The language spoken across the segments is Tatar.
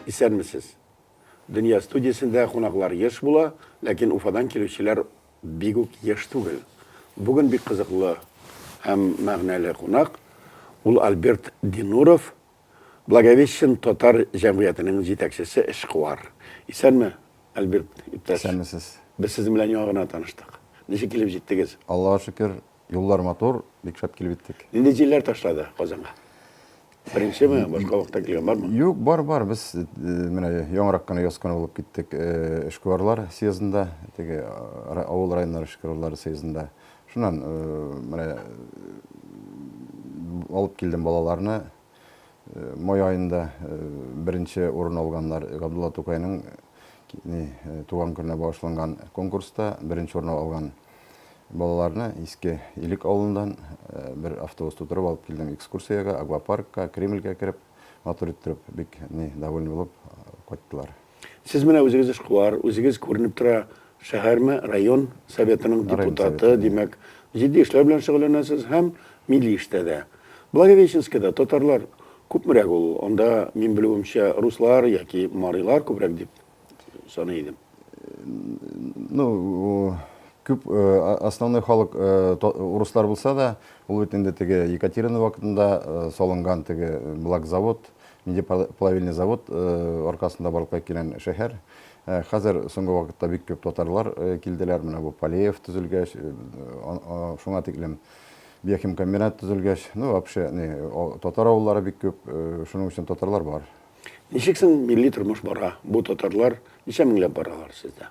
Исәнмесез! Дөнья студиясендә кунаклар еш була, ләкин Уфадан килүчеләр бик үк еш түгел. Бүген бик кызыклы һәм мәгънәле кунак, ул Альберт Динуров, Благовещен татар җәмгыятенең җитәкчесе эшкуар. Исәнме, Альберт иптәш. Исәнмесез. Без сезнең белән яңа гына таныштык. Ничек килеп җиттегез? Аллага шөкер, юллар матур, бик шәп килеп иттек. Нинди җилләр ташлады Казанга? Беренчеме, башка вакытта килгән бармы? Юк, бар, бар. Без менә яңарак кына яз көне булып киттек эшкуарлар съездында, теге авыл районнар эшкуарлары съездында. Шуннан менә алып килдем балаларны. Май айында беренче урын алганнар Габдулла Тукайның туган көненә багышланган конкурста беренче урын алган балаларны Иске Илек авылыннан бер автобус тутырып алып килдем экскурсиягә, аквапаркка, Кремльгә кереп, матур иттереп, бик ни довольны булып кайттылар. Сез менә үзегез эшкуар, үзегез күренеп тора, шәһәрме, район советының депутаты, димәк, җитди эшләр белән шөгыльләнәсез һәм милли эштә дә. Благовещенскида татарлар күпмерәк ул? Анда, мин белүемчә, руслар яки марилар күбрәк дип саный идем. Ну, күп основной халык урыслар булса да, ул бит инде теге Екатерина вакытында салынган теге блакзавод, Мидиплавильный завод аркасында барлыкка килгән шәһәр. Хәзер соңгы вакытта бик күп татарлар килделәр. Менә бу Полеев төзелгәч, шуңа тиклем биохимкомбинат төзелгәч, ну, вообще, не, татар авыллары бик күп, шуның өчен татарлар бар. Ничек соң милли тормыш бара? Бу татарлар ничә меңләп баралар сездә?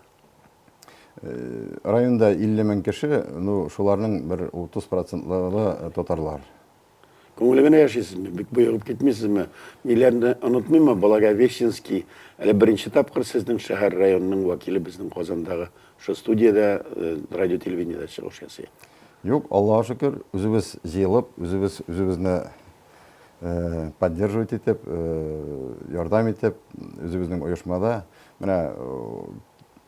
Районда 50 мең кеше, ну, шуларның бер 30 процентлары татарлар. Күңеле генә яшисезме, бик боегып китмисезме, ниләрне онытмыймы, Благовещенский, әле беренче тапкыр сезнең шәһәр, районның вәкиле безнең Казандагы шул студиядә, радио-телевидениедә чыгыш ясый. Юк, Аллага шөкер, үзебез җыелып, үзебез үзебезне поддерживать итеп, ярдәм итеп, үзебезнең оешмада, менә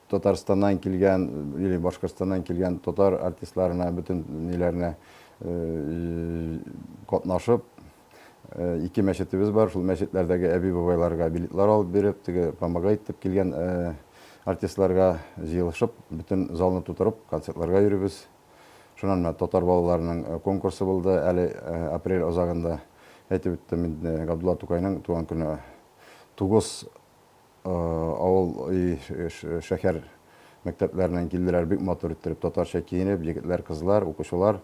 Татарстаннан килгән или Башкортстаннан килгән татар артистларына, бөтен ниләренә катнашып, ике мәчетебез бар, шул мәчетләрдәге әби-бабайларга билетлар алып биреп, теге помогает дип килгән артистларга җыелышып, бөтен залны тутырып, концертларга йөрибез. Шуннан менә татар балаларының конкурсы булды, әле апрель азагында, әйтеп үттем инде, Габдулла Тукайның туган көне. Тугыз Авыл и шәһәр мәктәпләреннән килделәр, бик матур иттереп татарча киенеп, егетләр, кызлар, укучылар.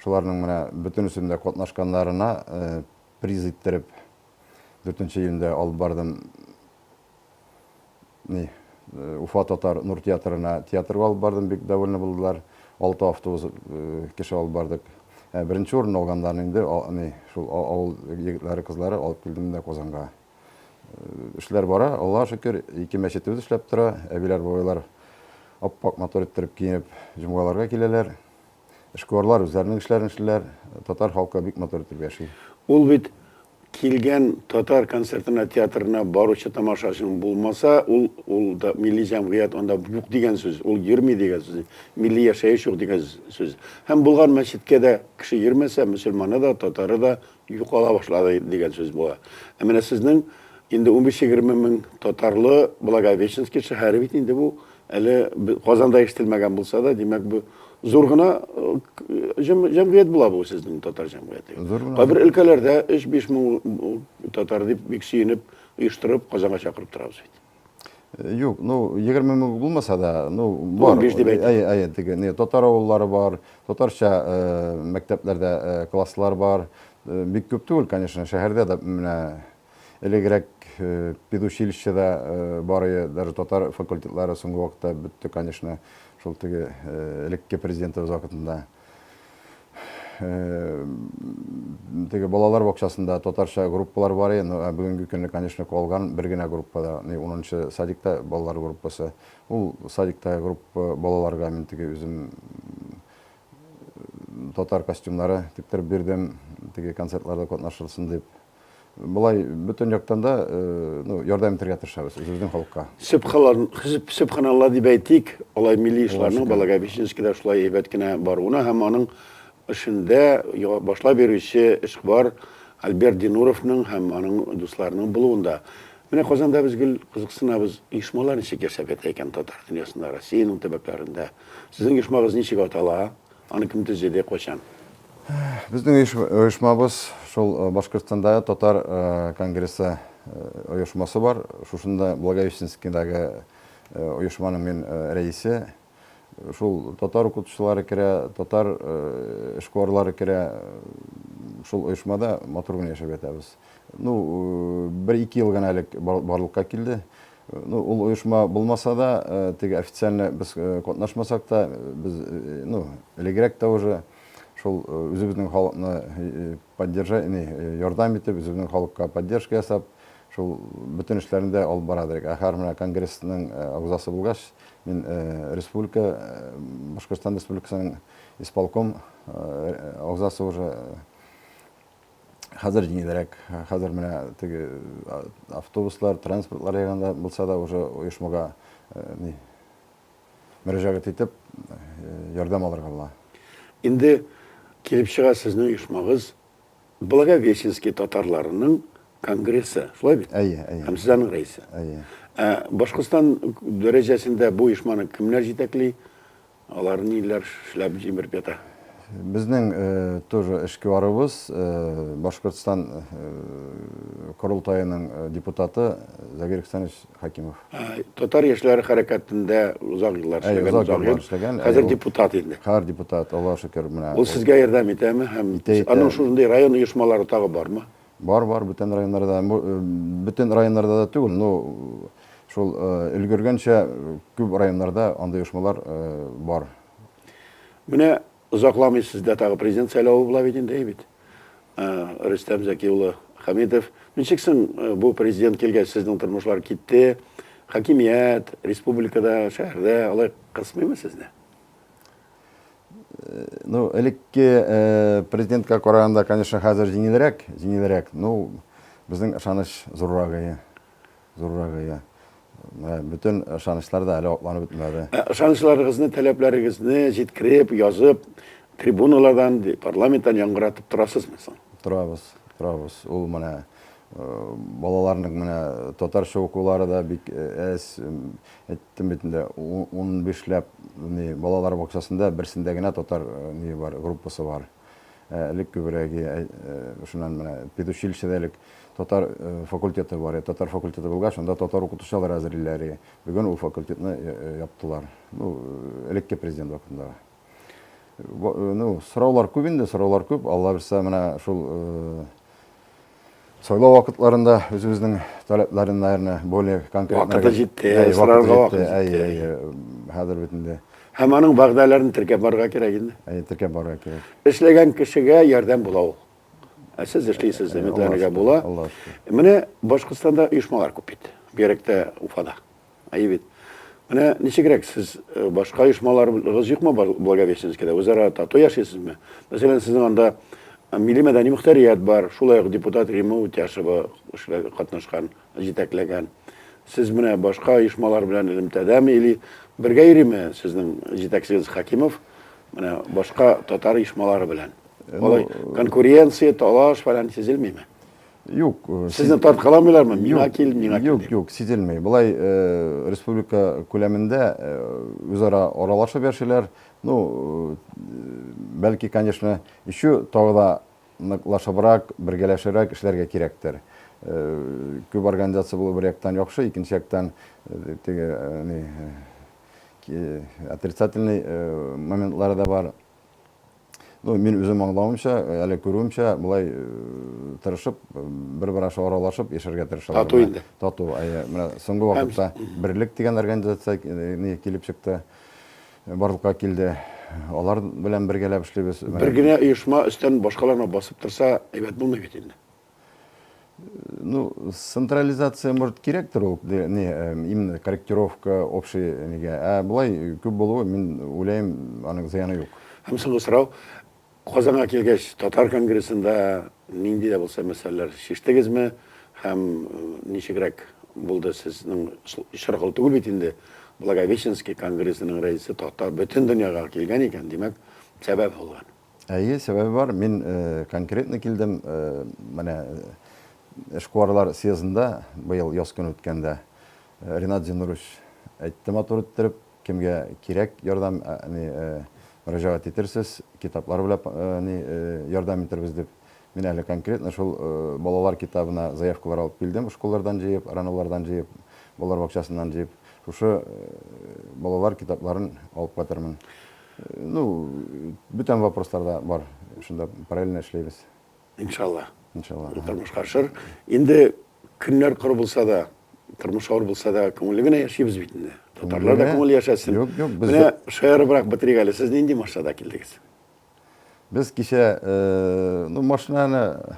Шуларның менә бөтенесендә катнашканнарына приз иттереп дүртенче июньдә алып бардым ни Уфа татар нур театрына театрга алып бардым, бик довольны булдылар. Алты автобус кеше алып бардык. Беренче урын алганнарны инде ни шул авыл егетләре, кызлары алып килдем дә Казанга. Эшләр бара, Аллаһ шөкер, ике мәчетебез эшләп тора. Әбиләр, бабайлар ап-ак матур иттереп киенеп, җомгаларга киләләр. Эшкуарлар үзләренең эшләрен эшлиләр. Татар халкы бик матур итеп яши. Ул бит килгән татар концертына, театрына баручы тамашачының булмаса, ул ул милли җәмгыять анда юк дигән сүз, ул йөрми дигән сүз, милли яшәеш юк дигән сүз. Һәм булган мәчеткә дә кеше йөрмәсә, мөселманы да, татары да юкала башлады дигән сүз була. Ә менә сезнең инде унбиш-егерме мең татарлы Благовещенский шәһәре бит инде бу, әле Казанда ишетелмәгән булса да, димәк, бу зур гына җәмгыять була бу сезнең татар җәмгыяте. Кайбер өлкәләрдә өч-биш мең татар дип бик сөенеп оештырып Казанга чакырып торабыз бит. Юк, ну, 20 мең булмаса да, ну, бар. 15 дип әйтә. Әйе, әйе, теге, не, татар авыллары бар, татарча э, мәктәпләрдә э, класслар бар. Э, бик күп түгел, конечно, шәһәрдә дә менә элегрәк э, педучилищеда э, барые, даже татар факультетлары соңгы вакытта бетте, конечно, шул теге э, элекке президентыбыз вакытында. Теге балалар бакчасында татарча группалар бар иде, но бүгенге көнне, конечно, калган бер генә группада, ни, унынчы садикта балалар группасы. Ул садиктагы группа балаларга мин теге үзем татар костюмнары тектереп бирдем, теге концертларда катнашылсын дип. Болай бөтен яктан да ярдәм итәргә тырышабыз үзебезнең халыкка. Сөбханаллар, сөбханаллар дип әйтик, алай милли эшләрнең Балагабичинскида шулай әйбәт кенә баруына һәм аның эшендә башлап йөрүче эшкуар Альберт Динуровның һәм аның дусларының булуында. Менә Казанда без гел кызыксынабыз, оешмалар ничек яшәп ята икән татар дөньясында, Россиянең төбәкләрендә. Сезнең оешмагыз ничек атала? Аны кем төзеде, кайчан? Безнең оешмабыз шул э, Башкортстанда татар э, конгрессы э, оешмасы бар. Шушында Благовещенскийдагы оешманың мин рәисе. Шул татар укытучылары керә, татар эшкуарлары керә. Шул оешмада матур гына яшәп ятабыз. Ну, бер-ике ел гына элек барлыкка килде. Ну, ул оешма булмаса да, теге официально без катнашмасак та, без, ну, элегрәк тә уже шул үзебезнең халыкны поддержать, не, ярдәм итеп, үзебезнең халыкка поддержка ясап, шул бөтен эшләрне дә алып бара идек. Ә хәзер менә конгрессның агзасы булгач, мин республика, Башкортстан Республикасының исполком агзасы уже. Хәзер җиңелрәк. Хәзер менә теге автобуслар, транспортлар ягында булса да уже оешмага ни мөрәҗәгать итеп ярдәм алырга була. Инде килеп чыга сезнең оешмагыз Благовещенский татарларының конгрессы, шулай бит? Әйе, әйе. Һәм сез аның рәисе. Әйе. Ә Башкортстан дәрәҗәсендә бу оешманы кемнәр җитәкли? Алар ниләр эшләп җимер ята? Безнең тоже эшкуарыбыз, Башкортстан Корылтаеның депутаты Загир Ихсанович Хәкимов. Татар яшьләре хәрәкәтендә озак еллар эшләгән. Озак еллар эшләгән. Хәзер депутат инде. Хәзер депутат, Аллага шөкер, менә. Ул сезгә ярдәм итәме һәм? Итә, итә. Аның шушындый район оешмалары тагы бармы? Бар бар бүтән районнарда бу бөтен районнарда да түгел но шул өлгергәнчә күп районнарда андый оешмалар бар. Менә озакламый сездә тагы президент сайлавы була бит инде, әйбит. Рөстәм Зәки улы Хәмитов, ничек соң бу президент килгәч сезнең тормышлар китте, хакимият, республикада, шәһәрдә алай кысмыймы сезне? Ну, элекке э, президентка караганда, конечно, хәзер җиңелрәк, җиңелрәк. Ну, безнең ышаныч зуррагые, зуррагые. Э, бөтен ышанычлар да әле атланып бетмәде. Э, ышанычларыгызны, таләпләрегезне җиткереп, язып, трибуналардан, парламенттан яңгыратып торасызмы соң? Торабыз, торабыз. Ул менә балаларның менә татарча укулары да бик әз. Әйттем бит инде, унбишләп балалар бакчасында берсендә генә татар ние бар, группасы бар. Элек күбрәге, шуннан менә педучилищеда элек татар факультеты бар иде. Татар факультеты булгач, анда татар укытучылар әзерлиләр иде. Бүген ул факультетны яптылар. Ну, элекке президент вакытындагы. Ну, сораулар күп инде, сораулар күп. Алла бирса, менә шул Сайлау вакытларында үзебезнең таләпләрен, наверное, более конкретно. Вакыты җитте, сорарга вакыт җитте. Әй, әй, хәзер бит инде. Һәм аның вәгъдәләрен теркәп барырга кирәк инде. Әй, теркәп барырга кирәк. Эшләгән кешегә ярдәм була ул. Ә сез эшлисез, өметләнергә була. Менә Башкортстанда оешмалар күп бит. Бигрәк тә Уфада. Әйе бит. Менә ничегрәк сез башка оешмаларыгыз юкмы Благовещенскида? Үзара тату яшисезме? Мәсәлән, сезнең анда милли мәдәни мөхтәрият бар, шулай ук депутат Рима Үтяшева катнашкан, җитәкләгән. Сез менә башка оешмалар белән элемтәдәме или бергә йөриме сезнең җитәкчегез Хакимов менә башка татар оешмалары белән? Алай конкуренция, талаш фәлән сизелмиме? Юк. Э, Сезне тарткаламыйлармы? Мина кил, мина кил. Юк, юк, сизелмей. Былай э, республика күләмендә э, үзара аралашып яшиләр. Ну, бәлки, конечно, еще тагы да ныклашыбрак, бергәләшебрәк эшләргә кирәктер. Күп организация булу бер яктан яхшы, икенче яктан теге отрицательный моментлары да бар. Ну, мин үзем аңлавымча, әле күрүемчә, болай тырышып, бер-бер аша аралашып яшәргә тырышалар. Тату инде. Тату, әйе. Менә соңгы вакытта Берлек дигән организация ни килеп чыкты, барлыкка килде. Алар белән бергәләп эшлибез. Бер генә оешма өстән башкаларына басып торса, әйбәт булмый бит инде. Ну, централизация, может, кирәктер ул, не, э, именно корректировка общий неге. Ә былай күп булуы, мин уйлайм, аның зыяны юк. Һәм соңгы сорау, Казанга килгәч, татар конгрессында нинди дә булса мәсьәләләр шиштегезме? Һәм э, ничегрәк булды сезнең шыргыл түгел бит инде. Благовещенский конгрессының рәисе татар бөтен дөньяга килгән икән, димәк, сәбәп булган. Әйе, сәбәбе бар. Мин конкретно килдем, менә эшкуарлар съездында быел яз көне үткәндә Ренат Зиннурович әйтте матур иттереп, кемгә кирәк ярдәм, әни, мөрәҗәгать итерсез, китаплар беләп, әни, ярдәм итербез дип. Мин әле конкретно шул балалар китабына заявкалар алып килдем, школлардан җыеп, районлардан җыеп, балалар бакчасыннан җыеп, шушы балалар китапларын алып кайтырмын. Ну, бүтән вопрослар да бар. Шунда параллельно эшләйбез. Иншалла. Иншалла. Тормыш каршыр. Инде көннәр коры булса да, тормыш авыр булса да, күңелле генә яшибез бит инде. Татарлар да күңелле яшәсен. Юк, юк, без Менә шаярыбрак бетерик әле. Сез нинди машинада килдегез? Без кичә, ну, машинаны,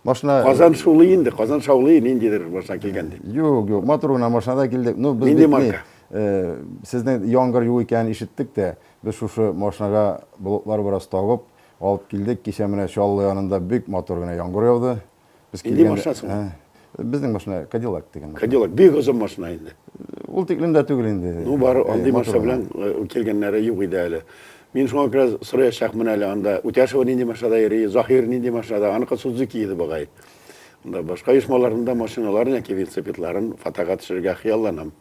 машина... Казан шулый инде, Казан шаулый, ниндидер машина килгән дип. Юк, юк, матур гына машинада килдек. Ну, без Нинди марка? Сезнең яңгыр юк икәнен ишеттек тә, без шушы машинага болытлар бераз табып, алып килдек. Кичә менә Чаллы янында бик матур гына яңгыр яуды. Без Милли килгән- машинасымы? Ә, Безнең машина Кадиллак дигән. машина. Кадиллак бик озын машина инде. Ул тиклем дә түгел инде. Ну, бар, Э, андый матур машина гына. белән э, килгәннәре юк иде әле. Мин шуңа күрә сораячакмын әле анда. Үтәшева нинди машинада йөри, Заһир нинди машинада, аныкы Судзуки иде бугай. Анда башка оешмаларның да машиналарын яки велосипедларын фотога төшерергә хыялланам.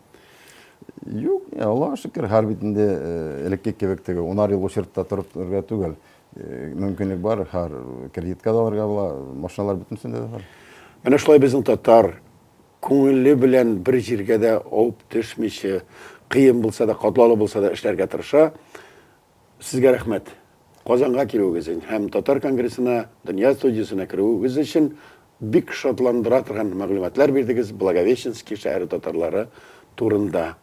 Юк, э, Аллага шөкер, һәр бит инде э, элекке кебек теге унар ел очертта торып торырга түгел. Мөмкинлек бар, һәр кредитка да алырга була, машиналар бөтенесендә дә бар. Менә шулай безнең татар күңеле белән бер җиргә дә авып төшмичә, кыен булса да, катлаулы булса да эшләргә тырыша. Сезгә рәхмәт. Казанга килүегез өчен һәм Татар конгрессына, Дөнья студиясенә керүегез өчен бик шатландыра торган мәгълүматлар бирдегез Благовещенски шәһәре татарлары турында.